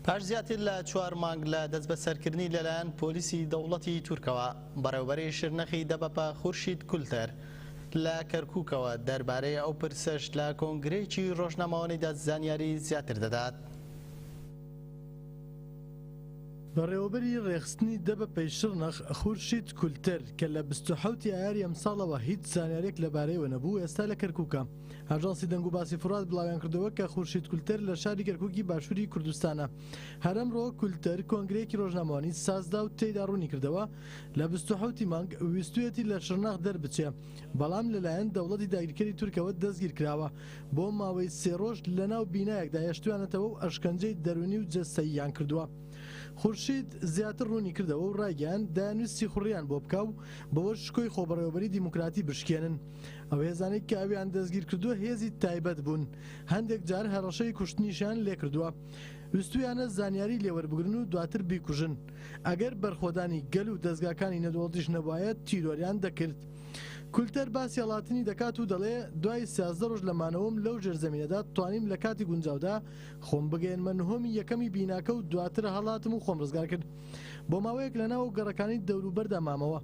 پاش زیاتر لە چوار مانگ لە دەستبەسەرکردنی لەلایەن پۆلیسی دەوڵەتی تورکەوە، بەڕێوبەری شرنەخی دەبەپە خورشید کولتەر لە کەرکوکەوە دەربارەی ئەو پرسەش لە کۆنگرەیەکی ڕۆژنامەوانیدا زانیاری زیاتر دەدات. بەڕێوەبەری ڕێکخستنی دەبەپەی شرنەخ خورشید کولتەر کە لە بیست و حەوت ی ئایاری ئەمساڵەوە هیچ زانیارییەک لەبارەیەوە نەبوو ئێستا لە کەرکوکە. ئاژانسی دەنگوباسی فورات بڵاویانکردەوە کە خورشید کولتەر لە شاری کەرکوکی باشووری کوردستانە هەرەمڕۆ کولتەر کۆنگرەیەکی ڕۆژنامەوانی سازدا و تێدا ڕوونیکردەوە لە 28 مانگ ویستویەتی لە شرناخ دەربچێ بەڵام لەلایەن دەوڵەتی داگیرکەری تورکەوە دەستگیرکراوە بۆ ماوەی سێ ڕۆژ لەناو بینایەکدا هێشتویانەتەوە و ئەشکەنجەی دەروونی و جەستەییان کردووە خورشید زیاتر ڕوونی کردەوە و ڕایگەیان دایانویست سیخوڕیان بۆ بکا و بەوەش شکۆی خۆبەڕێوەبەری دیموکراتی بشکێنن ئەو هێزانەی کە ئەویان دەستگیرکردووە هێزی تایبەت بوون هەندێک جار هەڕەشەی کوشتنیشیان لێکردووە ویستویانە زانیاری لێوەربگرن و دواتر بیکوژن ئەگەر بەرخۆدانی گەل و دەستگاکانی نەدۆڵتیش نەبوایە تیرۆریان دەکرد کولتەر باسی هەڵاتنی دەکات و دەڵێ دوای سیازدە ڕۆژ لە مانەوەم لەو ژێرزەمینەدا توانیم لە کاتی گونجاودا خۆم بگەێنمە نهۆمی یەکەمی بیناکە و دواتر هەڵاتم و خۆم ڕزگار کرد بۆ ماوەیەک لە ناو گەڕەکانی دەوروبەردا مامەوە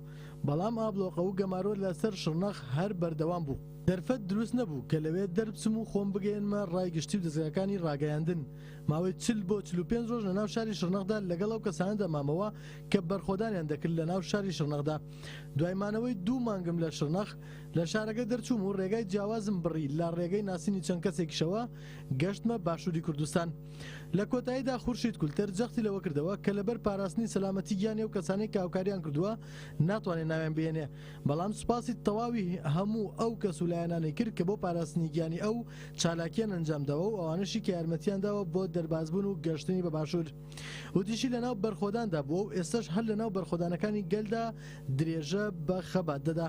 بەڵام ئابڵۆقە و گەمارۆ لە سەر شڕنەخ هەر بەردەوام بوو. دەرفەت دروست نەبوو کە لەوێ دەربچم و خۆم بگەیەنمە ڕای گشتی و دەزگاکانی ڕاگەیاندن. ماوەی چل بۆ چل و پێنج ڕۆژ لە ناو شاری شڕنەخدا لەگەڵ ئەو کەسانەدا مامەوە کە بەرخۆدانیان دەکرد لە ناو شاری شڕنەخدا. دوای مانەوەی دوو مانگم لە شڕنەخ، لە شارەکە دەرچووم و ڕێگای جیاوازم بڕی لە ڕێگەی ناسینی چەند کەسێکیشەوە گەشتمە باشووری کوردستان. لە کۆتاییدا خورشید کولتر جەختی لەوە کردەوە کە لەبەر پاراستنی سەلامەتی گیانی ئەو کەسانەی کە هاوکارییان کردووە ناتوانێت ناویان بهێنێ بەڵام سوپاسی تەواوی هەموو ئەو کەس و لایەنانەی کرد کە بۆ پاراستنی گیانی ئەو چالاکییان ئەنجام داوە و ئەوانەشی کە یارمەتییان داوە بۆ دەربازبوون و گەشتنی بە باشوور وتیشی لەناو بەرخۆداندا بووە و ئێستەش هەر لەناو بەرخۆدانەکانی گەلدا درێژە بە خەبات دەدا.